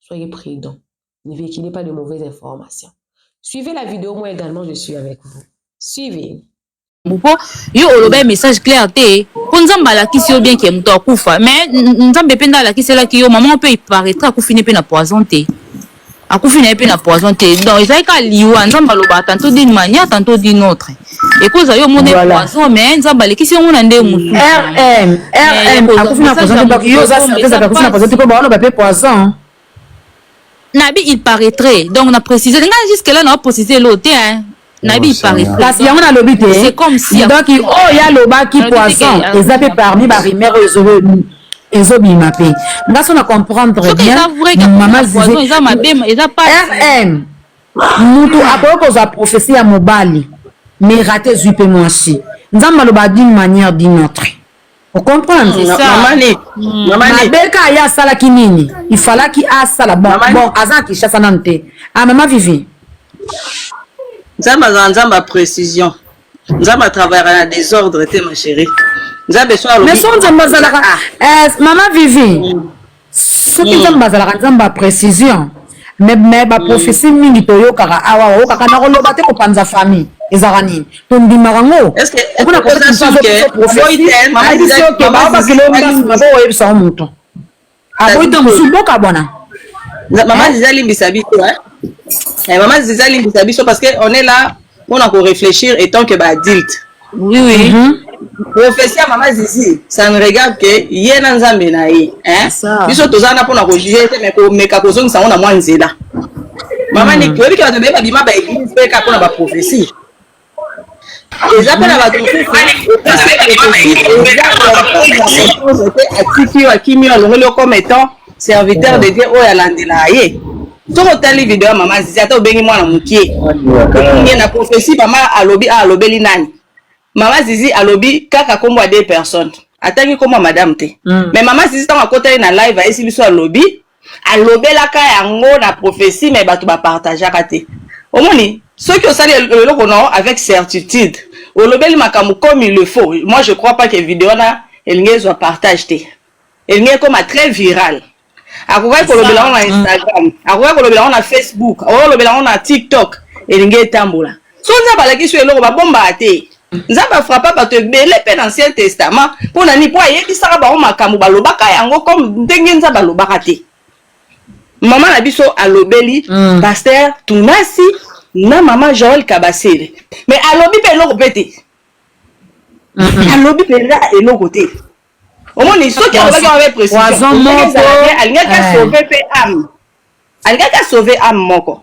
Soyez prudent. Ne véhiculez pas de mauvaises informations. Suivez la vidéo, moi également je suis avec vous. Suivez. mpo yo olobai message clair te mpo nzambe alakisi yo bien ke moto akufa mais nzambe mpe nde alakiselaki yo mama mpe paraître akufi ne mpe na poison te akufi na ye mpe na poison te donc ezalaki kaka liwa nzambe alobaka tanto dine mania tanto dine autre Ekoza yo mona voilà. poison mais nzambe alekisi yango na nde mosusu rm rm akufi na poison te donc yo oza certise ata akufi na poison te mpo baoloba mpe poison nabi il paraîtrait donc na précise ngai jusque là na précise elo te hein nayebi iparisien kasi yango nalobi te donc oyo alobaki poison eza mpe parmi barumeur oyo ezobima mpe nga so na comprendre bien mama zize rm Mutu akoki kozwa prophetie ya mobali mais rate ezwi pe mwasi. Nzambe aloba d'une manière d'une autre. O comprendre? C'est ça. Maman Nick, Mm. Maman Nick, mabe kaka ye asalaki nini ifalaki asala bon, Mama- bon aza na kinshasa nanu te ah, mama vivi Nzambe azala Nzambe ya précision. Nzambe atravaillera na désordre te ma chérie. Nzambe so alobi. mais so nzambe azalaka eh, mama vivi soki nzambe azalaka nzambe ya précision mais mais ba prophétie mm. mingi toyokaka awa ah, oyokaka na koloba te kopanza famille ezalaka nini tondimaka ngo okona koyebisa moto aboyi ntango mosusu boka bwana mama ziza limbisa biso mama ziza limbisa biso parce que on est là mpo na koreflechir etant que baadilte oui, oui. Mm -hmm. prophesie ya mama zizi ça ne regarde que ye na nzambe na ye biso toza wana mpo na kojuge te mais komeka kozongisa yango na mwa nzela mama niki oyebi ke bato baye babima baeglise mpe kaka mpo na baprophesie eza mpe na bato mosusu atiki yo akimi yo alongoli yo comme étant serviteur de dieu oyo alandelaka ye soki otali video ya mama zizi ata obengi mwana mokie ye na prophesie mama alobi a ah, alobeli nani mama zizi alobi kaka nkombo ya deux personnes atangi nkombo ya madame te mm. mais mama zizi ntango akotali na live ayesi biso alobi alobelaka yango na prophesie mais bato bapartageaka te omoni soki osali eloko na avec certitude olobeli makambo comme il le faut moi je crois pas que video wana elingi ezwa partage te elingi ekoma très viral akokaki kolobela yango na instagram akokaki kolobela yango na facebook akokaki kolobela yango na tiktok elingi etambola so nzambe alakisi yo eloko babombaka te nzambe afrapa bato ebele mpe na ancien testament mpo na nini mpo ayebisaka bango makambo balobaka yango comme ndenge nzambe alobaka te mama na biso alobeli mm. paster tunasi na mama joel kabasele mais alobi mpe eloko mpe te mm-hmm. alobi mpenza eloko te omoni soki alobaki yango avec précision Poison ndenge moko. ezala bien alingaki Eh. asauve mpe ame alingaki asauve ame moko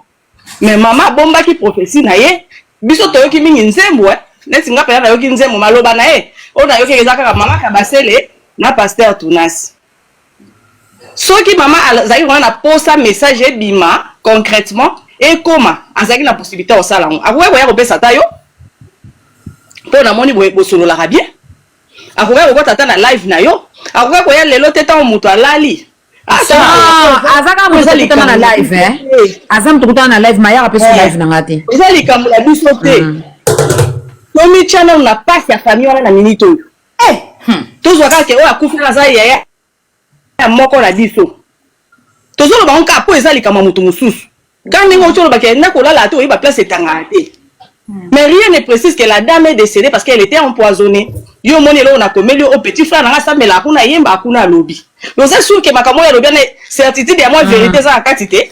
mais mama abombaki prophetie na ye biso toyoki mingi nzembo eh. neti nga mpenza nayoki nzembo maloba na ye oyo nayoki eza kaka mama kabasele na pasteur tunasi soki mama azalaki kona na posa message ebima concrètement ekoma azalaki na possibilité ya kosala yango akoki koya kopesa ata yo mpo namoni boye bosololaka bien akokaki kokota ata na live na yo akokaki koya lelo te ntango moto alali Ah, aza kaka moto kutana na live eh? aza moto kutana na live mayaka mpe so eh. live na nga te eza likambo na biso te hmm. tomitya nano na pasi ya famille wana na minite oyo eh. hmm. tozwa kaka te oyo akufi aza yaya ya moko na biso tozoloba yango kaka mpo eza likambo ya moto mosusu kaka ndenge oti olobaka na kolala ata oyeba place etangaka te hmm. mais rien ne précise que la dame est décédée parce qu'elle était empoisonnée yo omoni eloko nakomeli yo o oh, petit frère nanga asambelaka kuna ayemba kuna alobi oza sur ke makambo oyo alobi ana certitude ya mwa hmm. vérité eza na kati te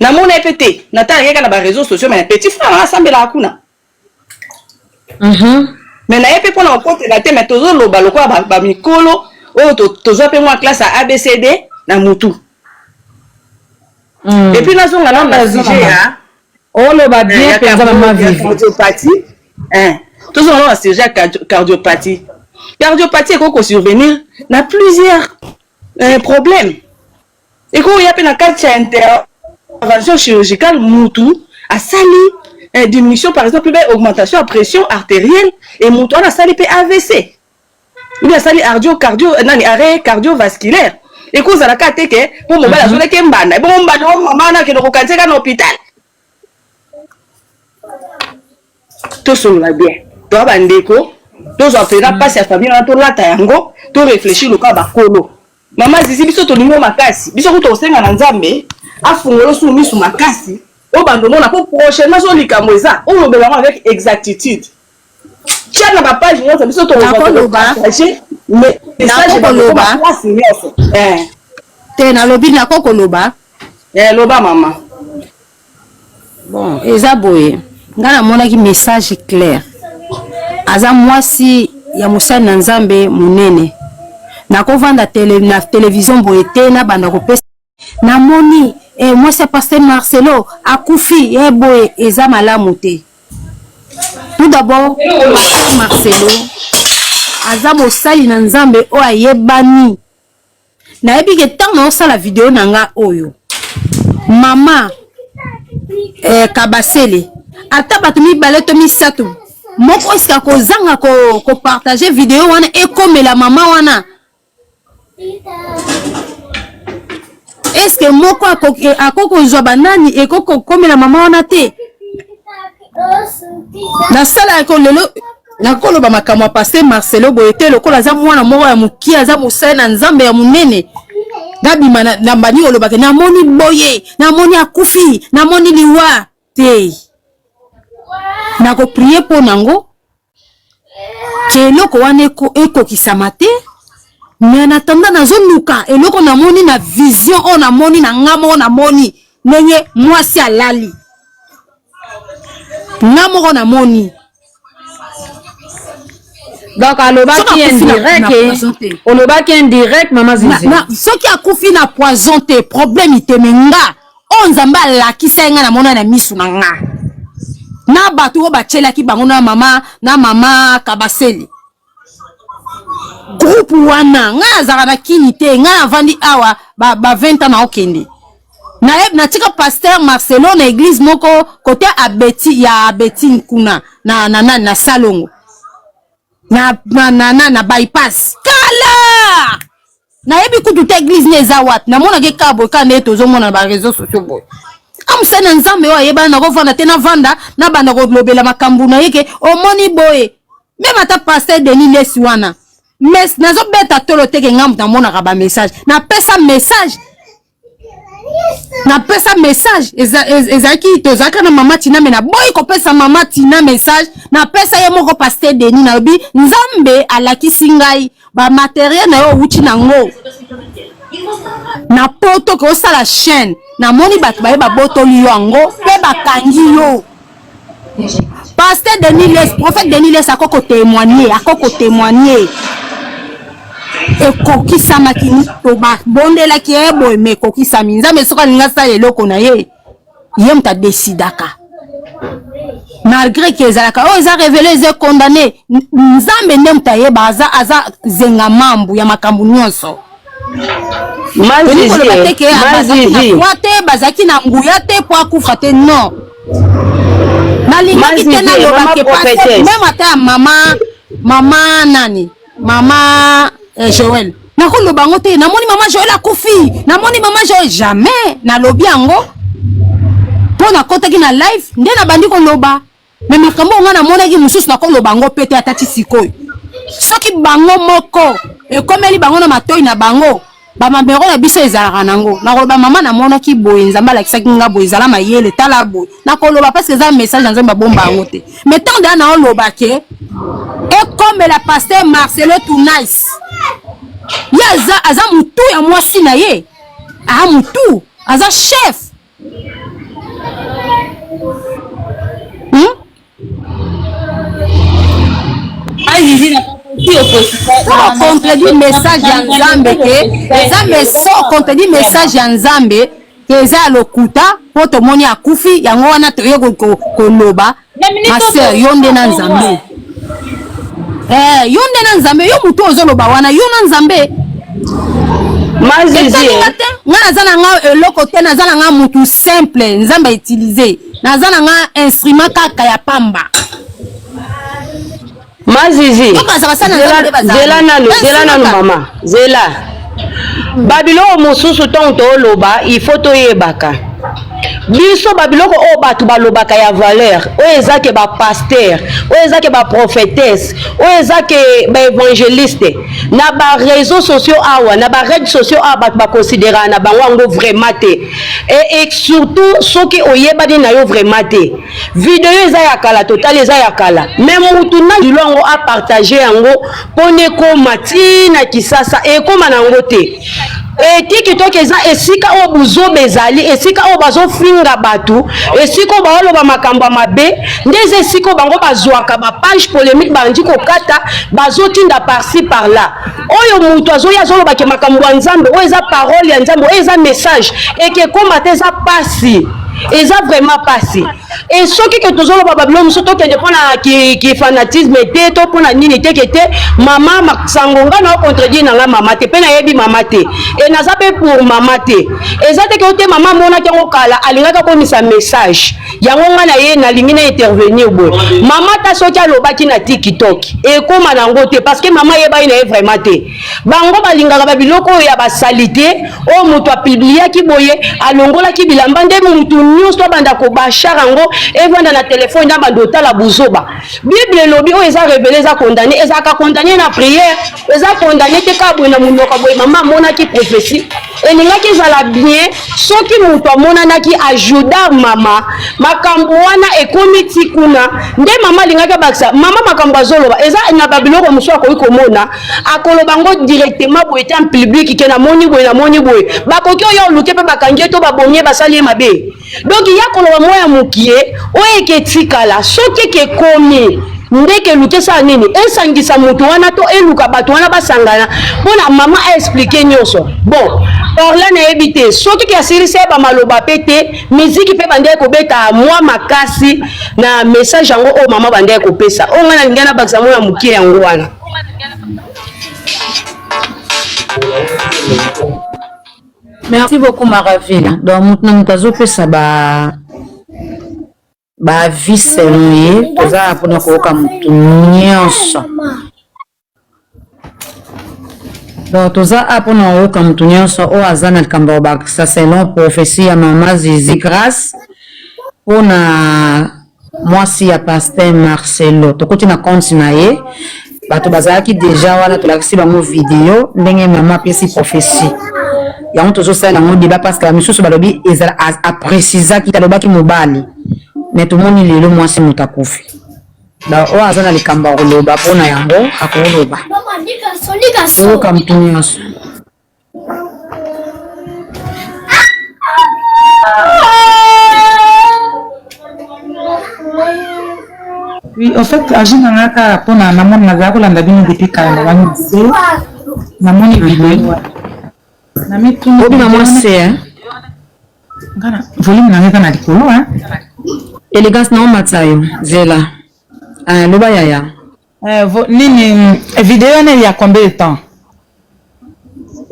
Na mona ye pe te. Na tala ye ka na ba reseaux sociaux mais petit frère na sambela kuna. Mhm. Mais na ye pe pona kokotela te mais tozo loba lokola ba, ba mikolo oyo to, tozwa pe mwa classe ya ABCD na mutu. Mm. Et puis nazonga na na sujet ya oloba bien penza mama vivi. Cardiopathie. Hein. Tozonga na na sujet ya cardiopathie. Cardiopathie ekoki ko survenir na plusieurs euh, problèmes. Eko ya pe na kati ya intervention chirurgicale mutu asali diminution par exemple pe augmentation ya pression arterielle et mutu wana asali pe avc ou bien asali ardio cardio nani arret cardiovasculaire eko zala ka te ke po mobali azolaki mbanda ebongo mbanda o mama na kende ko kanisa eka na hopital tosolola bien toa bandeko tozwa mpenza mpasi ya famille wana tolata yango to réfléchir lokola bakolo mama zizi biso tolingi yo makasi biso kutu osenga na nzambe afungola osu misu makasi obanda omona mpo prochainement so likambo eza olobela yango avec exactitude Tiana ba page nyonso biso tokoloba message bakoloba place nyonso eh. te nalobi nako koloba eh, loba mama bon eza boye ngai namonaki message clair aza mwasi ya mosali na nzambe monene nakovanda tele, na televizio boye te nabanda kopesa na moni eh, mwasi ya pasteur Marcelo akufi eh, boye eza malamu te. Tout d'abord pasteur Marcelo aza mosali na Nzambe oyo ayebani. Nayebi ke ntango naosala video na nga oyo mama eh, Kabasele ata bato mibale to misato moko esika kozanga kopartage ko video wana ekomela mama wana eske moko akoki kozwa banani ekoki kokomela mama wana te nasala ko lelo nakoloba makambo ya paster marcelo boye te lokola aza mwana moko ya mokie aza mosali na nzambe ya monene nabima na mbani olobaka namoni boye namoni akufi namoni liwa te nakoprie mpo na yango ke eloko wana ekokisama te mais en attendant nazoluka eloko namoni na vision oyo namoni na nga moko namoni ndenge mwasi alali nga moko namoni donc alobaki indirect olobaki indirect mama zizi soki akufi na poison te problème iteme nga oyo oh, nzambe alakisa ye nga namona na misu na nga na bato oyo batyelaki bango na mama na mama kabasele groupe wana ngai azalaka na kini te ngai navandi awa ba, ba 20 ans naokende natika paster marcelo na eglise moko kote abeti ya abetine kuna na, na, na, na salongo na, na, na, na, na bypass kala nayebi kutu te eglise nde eza wapi namonaka ekaa boye kaka ndeye tozomona na bareseau sociaux boye amusani ya nzambe oyo ayebana nakovanda te navanda nabanda kolobela makambo na ye ke omoni boye meme ata paster denis lesi wana mes nazobeta tolo teke ngambo namonaka bamessage napesa message napesa message ezalaki tozalaka na mama tina me naboyi kopesa mama tina message napesa ye moko paster deni nalobi nzambe alakisi ngai bamateriel na yo owuti nango na poto ke osala chaine namoni bato baye babotoli yo yango mpe bakangi yo Pasteur Denis Les, prophète Denis Les ako ko témoigner, ako ko témoigner. ekokisamaki babondelaki ye boye ma ekokisami nzambe soki alingi asala eloko na ye ye moto adesidaka malgré ke ezalaka oyo oh, eza revele eza condamne nzambe nde moto ayeba aza, aza zenga mambu ya makambo nyonso mazizi mazizi te bazalaki na nguya te po akufa te non nalingaki te nalobake meme ata ya mama mama nani mama eh, joel nakoloba yango te namoni mama joel akufi namoni mama joel jamais nalobi yango mpo nakotaki na live nde nabandi koloba Mais makambo nga namonaki mosusu nakoloba yango mpe te ata ti sikoyo soki bango moko ekomeli bango na matoi na bango bamabero na biso ezalaka nango nakoloba mama namonaki boye nzambe alakisaki nga boye ezala mayele tala boye nakoloba parce que eza message na nzambe abomba yango te mais ntango deya naoloba ke ekomela paster marcelo tunice ye aza, aza mutu ya mwasi na ye aa mutu aza chef Hmm? contredire message ya nzambe te eza meso contredire message ya nzambe eza ya lokuta mpo tomoni akufi yango wana toye koloba Pasteur, yo nde na Nzambe. Eh, yo nde na Nzambe, yo mutu ozoloba wana, yo na Nzambe. Mazizi. Nga naza na nga eloko te, naza na nga mutu simple, Nzambe utiliser. Naza na nga instrument kaka ya pamba. Mazizi, zela nanu, zela nanu mama, zela. Babiloko mosusu ntango tooloba, il faut toyebaka. biso babiloko oyo bato balobaka ya valeur oyo eza ke bapaster oyo eza ke baprofetese oyo eza ke baevangeliste na bareseau sociaux awa na barede sociaux awa bato bakonsideraka na bango yango vraiment te e, e surtout soki oyebani na yo vraiment te video eza ya kala totali eza ya kala me mutu na lilo yango apartage yango mpona ekoma ntina kisasa ekoma na yango te etiki toki eza esika oyo buzoba ezali esika oyo bazofinga bato esika oyo baoloba makambo ya mabe nde eza esika oyo bango bazwaka bapage polémique bandi kokata bazotinda parci par là oyo mutu azoyi azoloba ke makambo ya nzambe oyo eza parole ya nzambe oyo eza message ekekoma te eza pasi eza vraiment pasi e soki ke tozoloba babilo mosusu tokende mpo na kifanatisme ki te to mpo na nini teke te mama masango ngai na ocontredire na ngai mama te mpe nayebi mama te e naza mpe pour mama te eza teke yo te mama amonaki yango kala alingaki akomisa message yango nga na ye nalingi na intervenir boye mama ta soki alobaki na tiktok ekóma na yango te parce que mama ayebaki na ye vraiment te bango balingaka babiloko oyo ya basalite oyo moto apibliaki boye alongolaki bilamba nde motu nyonso abanda kobashar yango evanda na telefone na banda otala buzoba bible elobi oyo eza revele eza condamne ezalaka condamne na prière eza condamne te kaka boye na monoko boye mama amonaki prophetie elingaki ezala bien soki moto amonanaki ajudar mama makambo wana ekomi ti kuna nde mama alingaki abakisa mama makambo azoloba eza na babiloko mosusu akoki komona akoloba ngo directement boye te public ke namoni boye namoni boye bakoki oya oluke mpe bakangi ye to babomi ye basali ye mabe donk ya koloba mwa ya mokie oyo eke etikala soki eke ekomi Ndeke eluki esala nini? Esangisa moto wana to eluka bato wana basangana mpo na mama a expliquer nyonso. Bon, Orla nayebi te soki ke asilisi ya bamaloba mpe te, miziki mpe bandaki kobeta mwa makasi na message yango oyo mama bandaki kopesa. Oyo ngai nalingi nabakisa mwana moke yango wana. Merci beaucoup Maraville. Donc moto na moto azopesa ba baavi selon ye toza ya mpona koyoka motu nyonso donc toza a mpona koyoka motu nyonso oyo aza na likambo ya kobakisa selon prophesie ya mama zizi grace mpona mwasi ya paster marcelo tokoti na compte na ye bato bazalaki deja wana tolakisi bango video ndenge mama apesi prophesie yango tozosalela yango deba parceke misusu balobi ezala aprecizaki talobaki mobali me tomoni lelo mwasi moto akufi oyo aza na likambo ya koloba mpo na yango akoloba oyoka motu nyonso Oui, en fait, agi na nga kaka mpo na namoni nazala kolanda bino depuis kala na bani se namoni video na mituna obima mwa se ngana volume na nga kana likolo elegance na omatisa yo zela aloba yaya Eh, vo, nini video wana ya combien de temps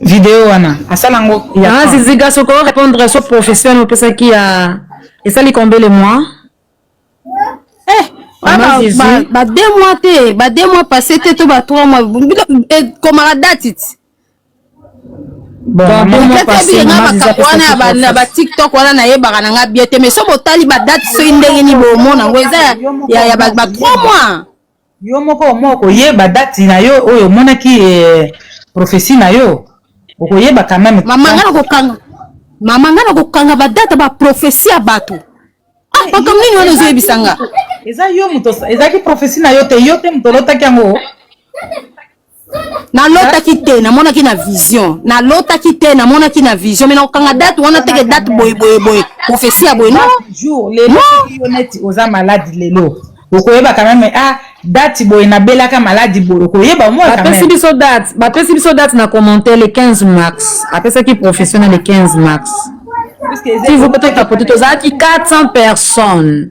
video wana asala ngo ya ah, ziziga soko répondre so profession na opesaki ya esali combien de mois eh ah, ba, ba, ba deux mois te ba deux mois passé te to ba trois mois ekomaka eh, date makambo wana ya bana ba tiktok wana nayebaka na nga bien te mais so botali badate soki ndenge nini bomona yango eza ya ba 3 mois yo moko omo okoyeba date na yo oyo omonaki eh, prophesie na yo okoyeba quand même mama nga nakokanga mama nga nakokanga badate ba prophesie ya bato ah makambo nini wana ozoyebisa nga eza yo moto ezalaki prophesie na yo te yo te moto olotaki yango nalotaki te namonaki na vision nalotaki te namonaki na vision me nakokanga date wana teke date boye boye boye profesi ya boye oza maladi lelo okoyeba quand même ah date boye nabelaka maladi boye okoyeba moi bapesi biso date bapesi biso date na commentaire le 15 mars apesaki professionnel le 15 mars si vous peut-être tozalaki 400 personnes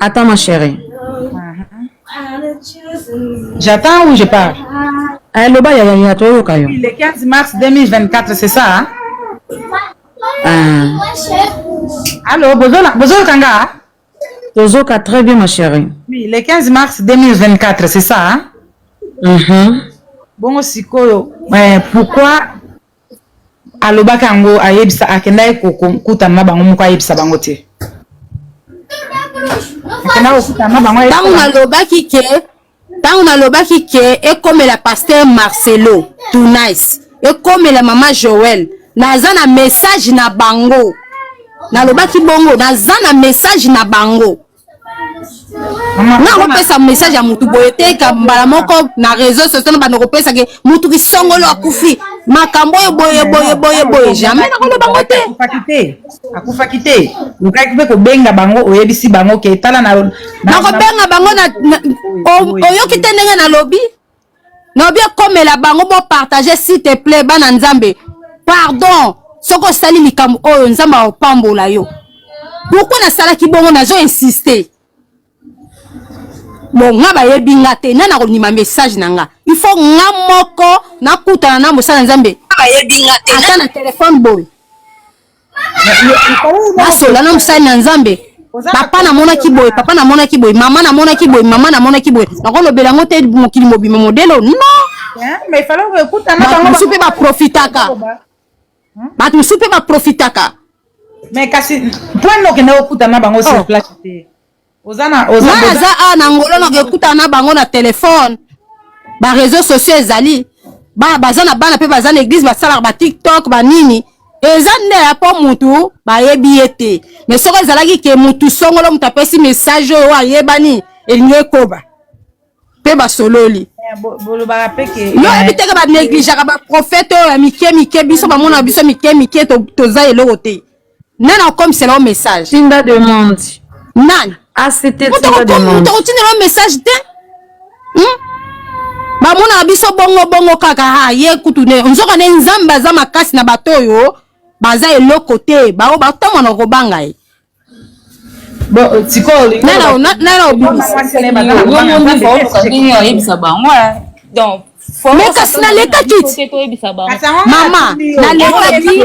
Attends ma chérie. J'attends ou je parle Eh, loba ya yaya toyoka yo. Le 15 mars 2024, c'est ça hein? Ah, Allô, bozola- bozoyoka nga hein? tozoka très bien ma chérie. Oui, le 15 mars 2024, c'est ça hein? Mhm. Bongo sikoyo, eh, pourquoi Alobaka yango ayebisa akendaki kokutana na bango moko ayebisa bango te ntango nalobaki ke ntango nalobaki ke ekomela paster marcelo tunice ekomela mama joel naza na message na bango nalobaki bongo naza na message na bango nga kopesa message ya mutu boye te mbala moko na réseau sociaux na bando kopesa ke mutu kisongolo akufi makambo oyo boye boye boye boye jamais nakoloba ngo te akufaki te akufaki te okaki mpe kobenga bango oyebisi bango ke tala na nakobenga bango na oyoki te ndenge nalobi naobi ekomela bango bopartage s'il te plaît bana nzambe pardon soki osali likambo oyo nzambe akopambola yo pourkui nasalaki bongo nazo insiste bon nga bayebi nga te nani akondima message na nga il faut nga moko nakutana na mosala nzambe ata na telefone boye asola na mosali na nzambe papa namonaki boye papa namonaki boye mama namonaki boye mama namonaki boye nakolobela yango te mokili mobima modelo non bato mosusu mpe baprofitaka bato mosusu mpe baprofitaka mais kasi mpo nokende okutana bango sur oh. place te nga naza awa na ngolo nakekutana na bango na telefone bareseau sociaux ezali bana baza na bana mpe baza na eglize basalaka batiktok banini eza nde ya mpo mutu bayebi ye te me soko ezalaki ke mutu songolo mutu apesi message oyo ayebani elingi ekoba mpe basololi eh, yo oyebi teke banegligeaka baprofete oyo ya mike mike biso bamonaka biso mike mike toza eloko te nani akomisela yo message tinda demande nani otokotinela yo message te hmm? bamonaka biso bongo bongo kaka ha ye kutu ne nzoka ne nzambe aza makasi na bato oyo baza eloko te baoyo batamwana kobanga ye oyebisa bango donc mais kasi nalekaki mama nalekaki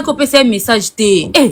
opesa ye message te eh.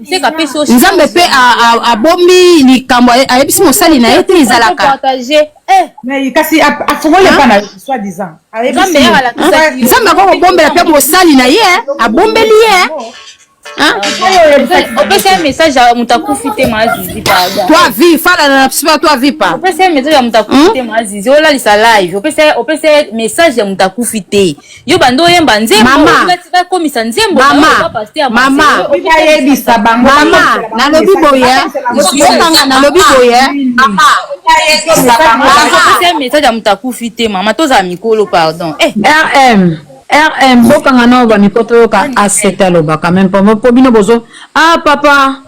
nzambe mpe abombi likambo ayebisi mosali na ye te ezalaka eh, kasi afongoli epa na soi disant nzambe akoki kobombela mpe mosali na ye abombeli ye opesi ye message ya moto akufi te maazizi toi vie fala na psipa toi vie pa opesi ye message ya moto akufi te maazizi olalisa live opesi ye message ya moto akufi te yo bando oyemba nzembo bakomisa nzembo mamaaayebisa bango mama nalobi boye okanga nalobi boye message ya moto akufi te mama tozala mikolo pardon eh. rm rm bokanga nao bamiko toyoka asete alobaka meme po bino bozo a ah, papa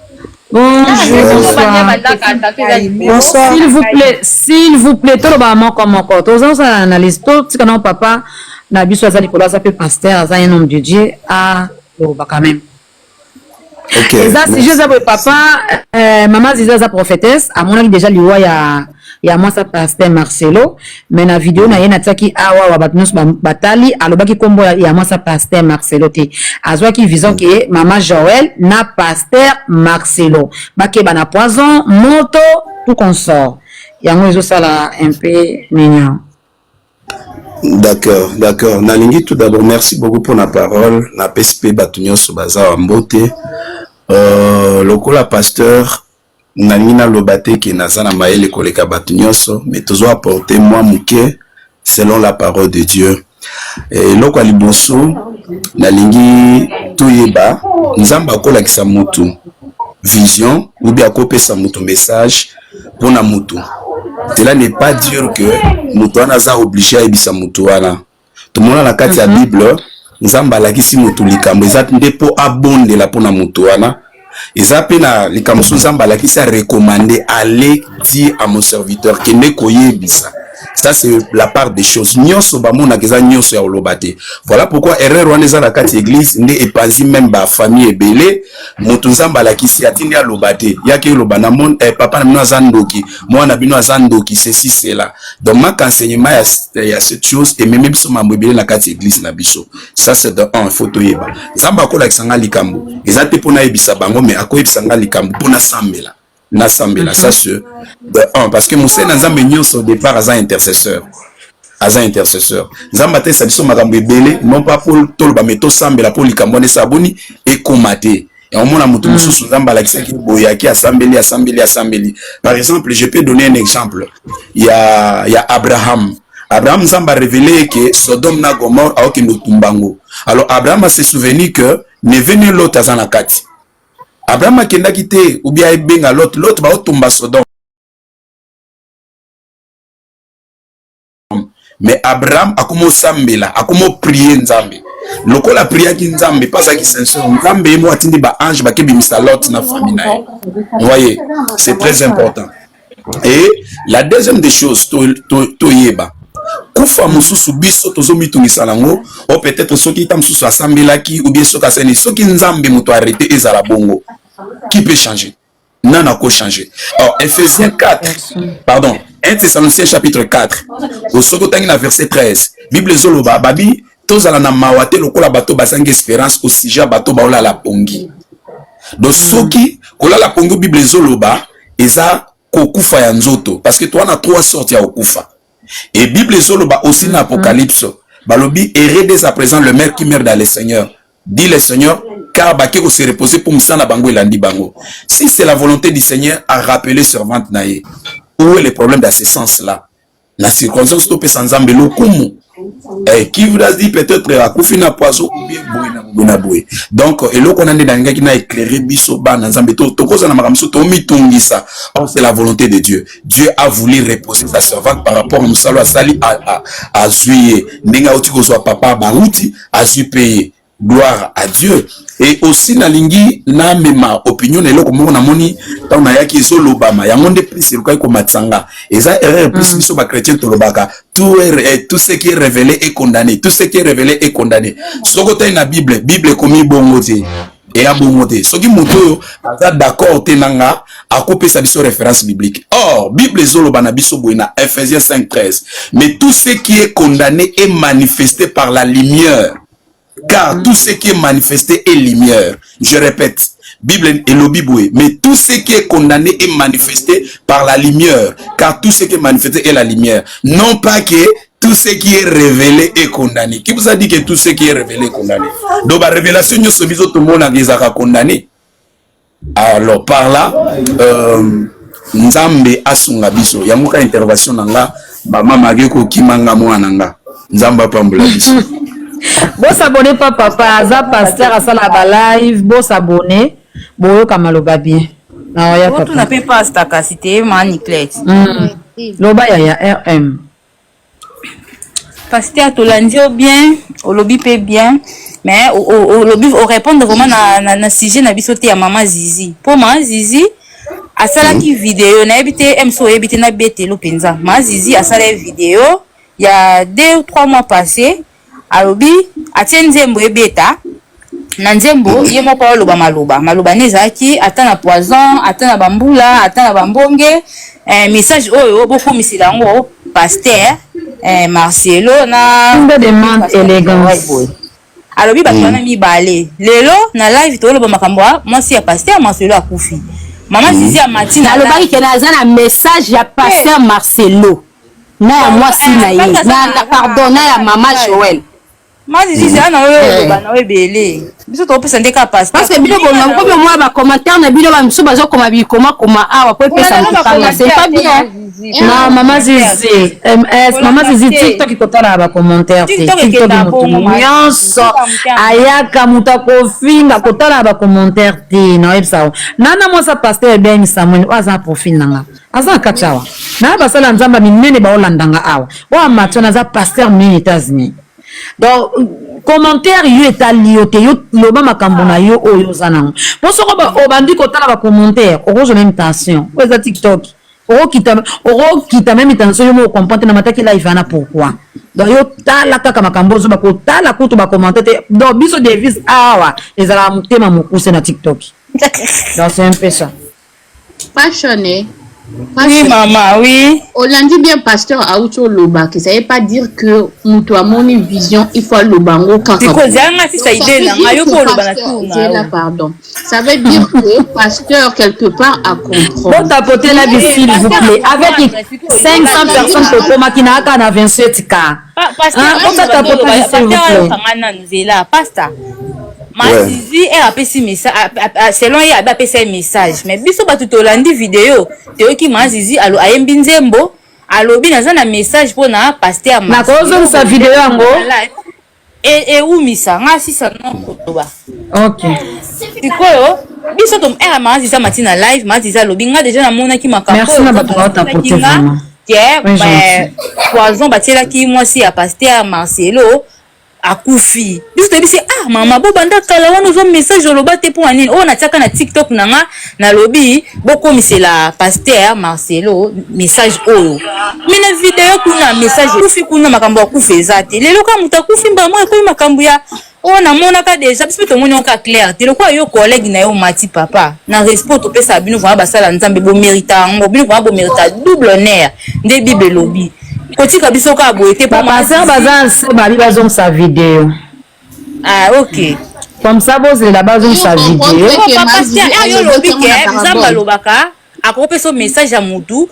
s'il vous plaît s'il vous plaît tolobaka moko moko toza kosala analyse totika nao papa na biso aza likolo aza mpe pasteur aza un homme de dieu aloba quand même eza sujet eza boye papa euh, mama ziza aza prophétesse amonaki déjà liwa ya ya mwasa pasteur marcelo me na video na ye natiaki awa wa bato nyonso batali alobaki nkombo ya mwasa pasteur marcelo te azwaki vision ke mama joel na pasteur marcelo bakeba na poison moto tout consort yango ezosala un peu ninion d'accord d'accord nalingi tout d'abord merci beaucoup mpona parole napesi mpe bato nyonso baza wa mbote euh, lokola pasteur Nalingi naloba te que naza na mayele koleka batu nionso mais tozo apporter mua muke selon la parole de Dieu. Eloko ya liboso nalingi toyeba Nzambe akolakisa mutu vision ou bien akopesa mutu message pona mutu cela n'est pas dire que mutu wana aza oblige ayebisa mutu wana. tomona na kati ya mhm. bible nzambe alakisi motu likambo eza nde mpo abondela mpo na motu wana eza mpe na likambo mosusu nzambe alakisi arekomande ale dire à mon serviteur kende koyebisa ça c'est la part des choses nyonso bamonaka eza nyonso ya koloba te voilà pourquoi erreur wana eza na kati ya église nde epanzi meme bafamille ebele moto nzambe alakisi atindi aloba te yaki oloba na mone eh, papa na bino aza ndoki mwana na bino aza ndoki ceci cela donc manque enseignement ya, ya cette chose ememi biso mambo ebele na kati ya eglise na biso ça c'est de un faut toyeba nzambe akolakisa ngai likambo eza te mpo nayebisa bango mais akoyebisa ngai likambo mpo nasambela nasambela ça ce de un parce que mosali na nzambe nyonso au départ aza intercesseur aza intercesseur nzambe atalisa biso makambo ebele non pas mpo toloba me tosambela mpo likambo wana esala boni ekoma te Et on mona moto mosusu nzambe alakisaki boye yaki asambeli asambeli asambeli par exemple je peux donner un exemple ya ya abraham abraham nzambe arevele ye ke sodome na gomore aokende otumba yango alors abraham ase souvenir que neve ne lot aza na kati abraham akendaki te ubia ebenga lot lot baotumba sodome mais abraham akoma osambela akoma oprie nzambe lokola apriaki nzambe mpe azalaki sincere nzambe ye moko atindi baange bakebimisa lot na famille na ye voye c'est très important et la deuxième des choses toyeba to, to kufa mosusu biso tozomitungisa nango o oh, peut-être soki ta mosusu asambelaki ou bien soki asali soki nzambe moto arrete ezala bongo qui peut changer nana ko changer alors Ephésiens 4 pardon 1 Thessaloniciens chapitre 4 osoki otangi na verset 13 Bible ezoloba babi tozala na mawa te lokola bato bazangi esperance au sujet ya bato baolala pongi donc soki kolala pongi Bible ezoloba eza kokufa ya nzoto parce que toa na trois sortes ya kokufa et bible ezoloba aussi na apocalypse balobi heureux dès à présent le maire qui meurt dans le seigneur dit le seigneur car bake ko se reposer pour misa na bango elandi bango si c'est la volonté du seigneur a rappeler servante na ye où est le problème dans ce sens là na circonstance topesa nzambe lokumu eh, qui voudra dire peut-être akufi na poison ou bien boye na boye na boye donc eloko wana nde nalingaki na éclaire biso bana nzambe tokozala makambo mosusu tomitungisa or c'est la volonté de dieu Dieu a voulu reposer sa servante par rapport à mosala asali azui ye ndenge auti kozwa papa bauti azui mpe ye gloire à Dieu et aussi nalingi namema opinion na eloko moko namoni ntango nayaki ezolobama yango nde plus elukaki komatisa nga eza erreur plus mm. biso bachrétien tolobaka tout, er, eh, tout ce qui est révélé est condamné tout ce qui est révélé est condamné soki otali na bible bible ekomi bongo te eya bongo te soki moto oyo aza d'accord te na nga akopesa biso référence biblique or bible ezoloba na biso boye na ephésiens 5 13 mais tout ce qui est condamné est manifesté par la lumière car tout ce qui est manifesté est lumière je répète Bible elobi boye, mais tout ce qui est condamné est manifesté par la lumière, car tout ce qui est manifesté est la lumière. Non pas que tout ce qui est révélé est condamné qui vous a dit que tout ce qui est révélé est condamné donc ba révélation nyonso biso tomonaka ezalaka condamné alors par là euh, nzambe asunga biso yango ka intervention na nga bamama ake kokima nga mwana nga nzambe apambola biso bosabone pa papa aza paster asala balive bosabone boyoka maloba bien naoya papa otuna mpe pasta kasi te maniclet mm. loba ya ya rm Pasteur tolandi yo bien olobi pe bien mais olobi o répondre vraiment na, na, na sujet na biso te ya mama zizi po mama zizi asalaki hmm. video nayebi te mso oyebi te nabetelo mpenza mama zizi asala ye video ya deux ou trois mois passé Alobi atie nzembo ebeta na nzembo ye moko aloba maloba maloba ne ezalaki ata na poison ata na bambula ata na bambonge eh, message oyo bokomisela yango pasteur eh, marcelo na alobi bato wana mm. mibale lelo na live toloba makambo ya mwasi ya pasteur marcelo akufi mama mm. zizi ya matina alobaki kena aza na message ya pasteur eh. marcelo na ya mwasi na ye na pardon na ya mama Joël mani zizi ana oyo eh. oloba na oyo ebele biso tokopesa nde kaka pasi parce que bino bonga komi omwa ba commentaire na bino bamisusu bazokoma bikoma koma awa po epesa mokanga c'est pas bien na mama zizi ms mama zizi tiktok ikotalaka bacommentaire te tiktok motu nyonso ayaka moto akofinga kotalaka bacommentaire te naoyebisa yo nana mwasa paster ebeni samuel oyo aza na profil na nga aza na kati awa na basala ya nzambe minene baolandanga awa oyo amati wana aza paster minene etats-unis donc commentaire yo etali yo te yo loba makambo na yo oyo oza nango mpo soko obandi kotala bacommentaire okozwa meme tension oyo eza tiktok okokita meme tension yo moko comprendre na mataki live wana pourquoi donc yo tala kaka makambo ozoba kotala kutu bacommentaire te donc biso devise awa ezalaka motema mokuse na tiktok donc c'est un peu ça Passion eh. Oui maman, oui. Olandi bien pasteur auti oloba que ça veut pas dire que mutu amoni vision il faut aloba yango kaka. Siko zanga si ça idée na nga yo ko oloba na tour na yo. pardon. Ça veut dire que pasteur quelque part a compris. Bon tapoter la vie s'il vous plaît avec 500 personnes ko koma ki na aka na 27 cas. Ah, pasta masizi e apesi selon ye abe apesa ye message mais biso bato tolandi video toyoki mazizi ayembi nzembo alobi naza na message mpo na paster nakozongisa video yango ewumisa e nga sisa nokoloba sikoyo biso to era eh, mazizi amati na live mazizi alobi nga deja namonaki makambo ke poison batielaki mwasi ya paster marcelo akufi biso toyebi se ah mama bobanda kala wana ozwa message oloba te mpo ya nini oyo natiaka na tiktok na nga nalobi bokomisela paster marcelo message oyo me na video kuna message akufi kuna makambo akufi eza te lelo kaka moto akufi mbala moko ekomi makambo ya oyo namonaka deja biso mpe tomoni yango kaka claire te lokola yo collègue na yo mati papa na respect topesaka bino vraimen basala nzambe bomerita yango bino vraimen bomerita double honneur nde bible elobi kotika biso kaka boye te bapasteur baza nse babi bazongisa video ah ok comme ça bozela bazongisa video papa sia yo olobi ke nzambe alobaka akoki pesa message ya mutu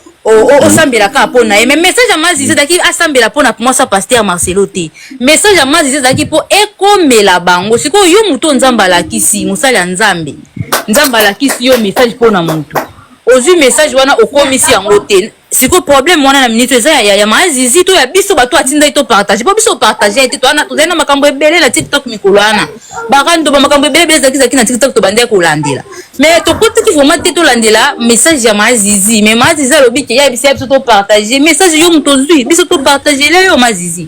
osambela kaka mpo na ye mais message ya mazizi ezalaki asambela mpo na mwasi ya paster marcelo te message ya mazizi ezalaki mpo ekomela bango sikoyo yo moto oyo nzambe alakisi mosali ya nzambe nzambe alakisi yo message mpo na motu ozwi message wana okomisi yango te sikoyo problème wana na minute eza ya ya ma zizi to ya biso bato atindaki to partage po biso partage ye te toana tozali na makambo ebele na tiktok mikolo wana barando ba makambo ebele ebele ezalaki ezalaki na tiktok tobandaki kolandela mais tokotaki vraiment te tolandela message ya ma zizi mais ma zizi alobi ke ya biso ya biso to partage message yo moto ozwi biso to partage le yo ma zizi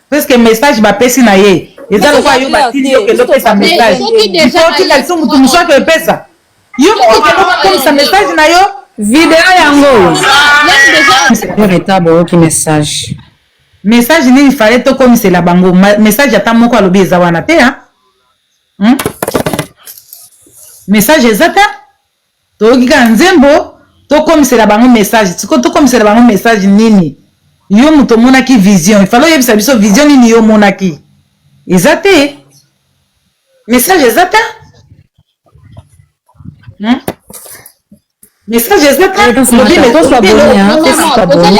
puisque message bapesi na ye eza lokola yo batindi yo kende opesa message otika lisusu motu mosusu ake epesa yo moko okende okomisa message na yo video yango oyo reta boyoki message message nini fale tokomisela bango message ata moko alobi eza wana te hmm? message eza te Toyoki kaka nzembo to komisela bango message sikoyo to komisela bango message nini? Yo mutu omonaki vision il fallait oyebisa biso vision nini yo omonaki? Eza te message eza ta hmm? message eza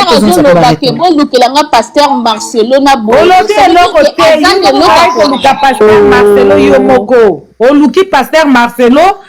taolobake bolukela nga paster marcelo na boolobi eloko te oluka paster marcelo yo moko oluki paster marcelo